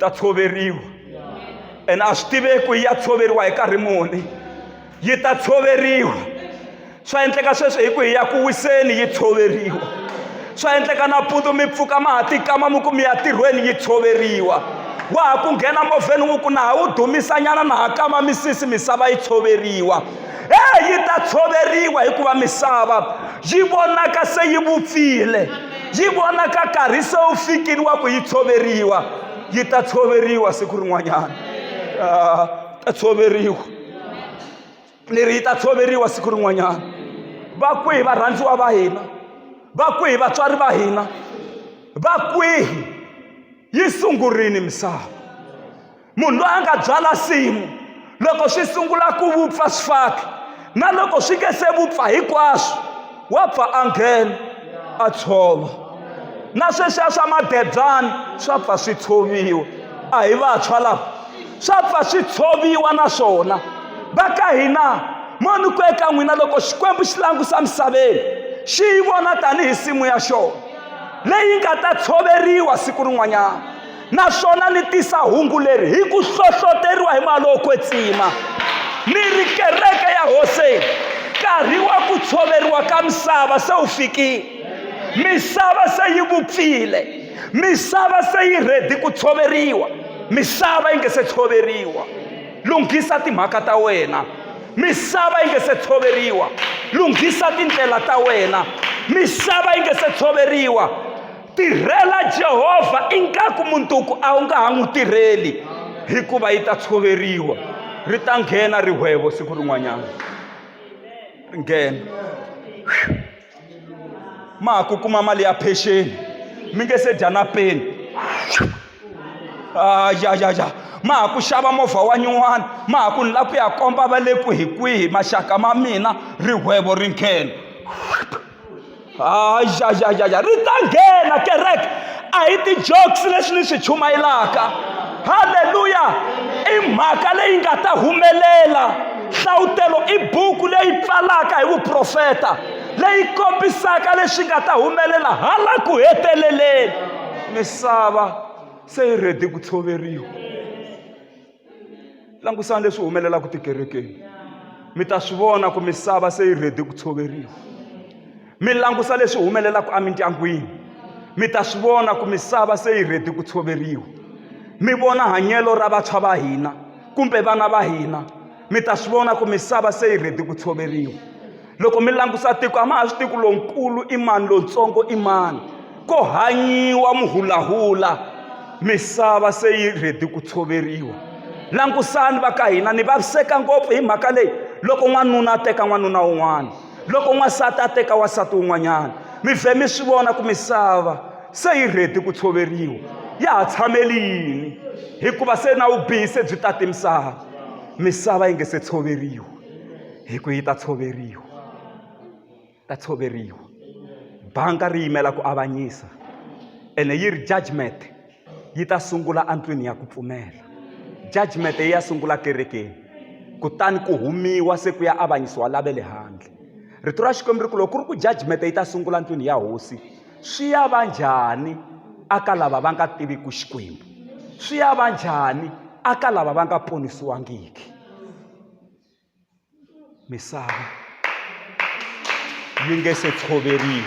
ta tshoveriwa ene a swi tiveki ku yi ya tshoveriwa hi nkarhi muni yi ta tshoveriwa swa endleka sweswi hi ku hi ya ku wiseni yi tshoveriwa swa endleka nampundzu mi pfuka ma ha tikama mi ku mi ya tirhweni yi tshoveriwa wa ha ku nghena movheni wu ku na ha wu dumisanyana na ha kama misisi misava yi tshoveriwa Ee, yi ta tshoveriwa hikuva misava yi vonaka se yi vupfile yi vonaka karhi se wu fikile wa ku yi tshoveriwa yi ta tshoveriwa siku rin'wanyana ah, ta tshoveriwa ni ri yi ta tshoveriwa siku rin'wanyana va kwihi varhandziwa va hina va kwihi vatswari va hina va kwihi yi sungurile misava munhu loyi a nga byala nsimu loko swi sungula ku vupfa swifaki na loko swi nge se vupfa hinkwaswo wa pfa a nghena a tshova na sweswiya swa madebyana swa pfa swi tshoviwa a hi vantshwa lava swa pfa swi tshoviwa na swona va ka hina moni ku eka n'wina loko xikwembu xi langusa misaveni xi yi vona tanihi nsimu ya xona leyi nga ta tshoveriwa siku rin'wanyana naswona ni tisa hungu leri hi ku hlohloteriwa hi mali wo kwetsima ni ri kereke ya hoseni nkarhi wa ku tshoveriwa ka misava se wu fikile misava se yi vupfile misava se yi rhedi ku tshoveriwa misava yi nge se tshoveriwa lunghisa timhaka ta wena misava yi nge se tshoveriwa lunghisa tindlela ta wena misava yi nge se tshoveriwa tirhela jehovha ingaku munduku a wu nga ha n'wi tirheli hikuva yi ta tshoveriwa ri ta nghena rihwevo siku rin'wanyana ri nghena ma ha ku kuma mali ya pension mi nge se dya na peni a ya ya ya ma ha ku xava movha wa nyuwana ma ha ku ni lava ku ya komba va le ku hi kwihi maxaka ma mina rihwevo ri nghena a ya ya ya ya ri ta nghena kereke a hi ti-jokes leswi ni swi chumayelaka halleluya i mhaka leyi nga ta humelela nhlawutelo i buku leyi pfalaka hi vuprofeta leyi kombisaka leswi nga ta humelela hala ku heteleleni misava se yi rhedi ku tshoveriwa langusani leswi humelelaka tikerekeni mi ta swi vona ku misava se yi rhedi ku tshoveriwa mi langusa leswi humelelaka emindyangwini mi ta swi vona ku misava se yi rhedi ku tshoveriwa mi vona hanyelo ra vantshwa va hina kumbe vana va hina mi ta swi vona ku misava se yi rhedi ku tshoveriwa loko mi langusa tiko a ma ha swi tivi ku lonkulu i mani lontsongo i mani ko hanyiwa muhulahula misava se yi rhedi ku tshoveriwa langusani va ka hina ni vaviseka ngopfu hi mhaka leyi loko n'wanuna a teka n'wanuna wun'wana loko n'wansati a teka wansati wun'wanyana mi vhe mi swi vona ku misava se yi rhedi ku tshoveriwa ya ha tshameli yini hikuva se na vubihi se byi tate misava misava yi nge se tshoveriwa hi ku yi ta tshoveriwa ta tshoveriwa banga ri yimela ku avanyisa ene yi ri judgment yi ta sungula endlwini ya ku pfumela judgment yi ya sungula kerekeni kutani ku humiwa se ku ya avanyisiwa lave le handle rito ra xikwembu ri ku loko ku ri ku judgment yi ta sungula endlwini ya hosi swi ya va njhani aka lava va nga tiviki xikwembu swi ya va njhani aka lava va nga ponisiwangiki misava yi nge se tshoveriwa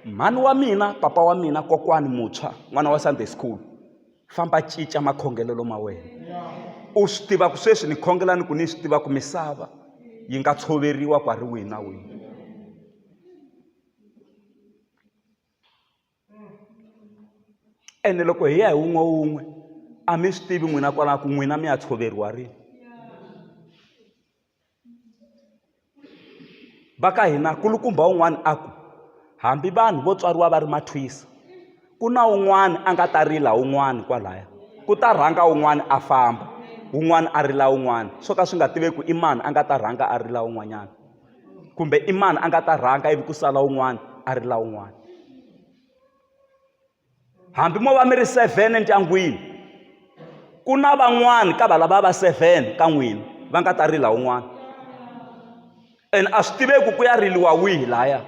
mhani wa mina papa wa mina kokwani muntshwa n'wana wa sunday school famba cinca makhongelelo ma wena u swi tiva ku sweswi ni khongela ni ku ni swi tiva ku misava yi nga tshoveriwa ku a ri wihi na wihi ene loko hi ya hi wun'we wun'we a mi swi tivi n'wina kwalaho ku n'wina mi ya tshoveriwa rini va ka hina kulukumba un'wana a ku hambi vanhu vo tswariwa va ri mathwisa ku na un'wana a nga ta rila un'wana kwalaya ku ta rhanga un'wana a famba un'wana a rila un'wana swo ka swi nga tiveki i mani a nga ta rhanga a rila un'wanyana kumbe i mani a nga ta rhanga ivi ku sala un'wana a ri la un'wana hambi mo va mi ri seven endyangwini ku na van'wana ka valava va seven ka n'wina va nga ta rila un'wana and a swi tiveki ku ya riliwa wihi laya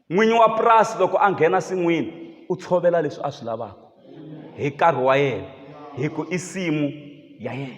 n'winyi wa purasi loko a nghena sin'wini u tshovela leswi a swi lavaka hi nkarhi wa yena hi ku i nsimu ya yena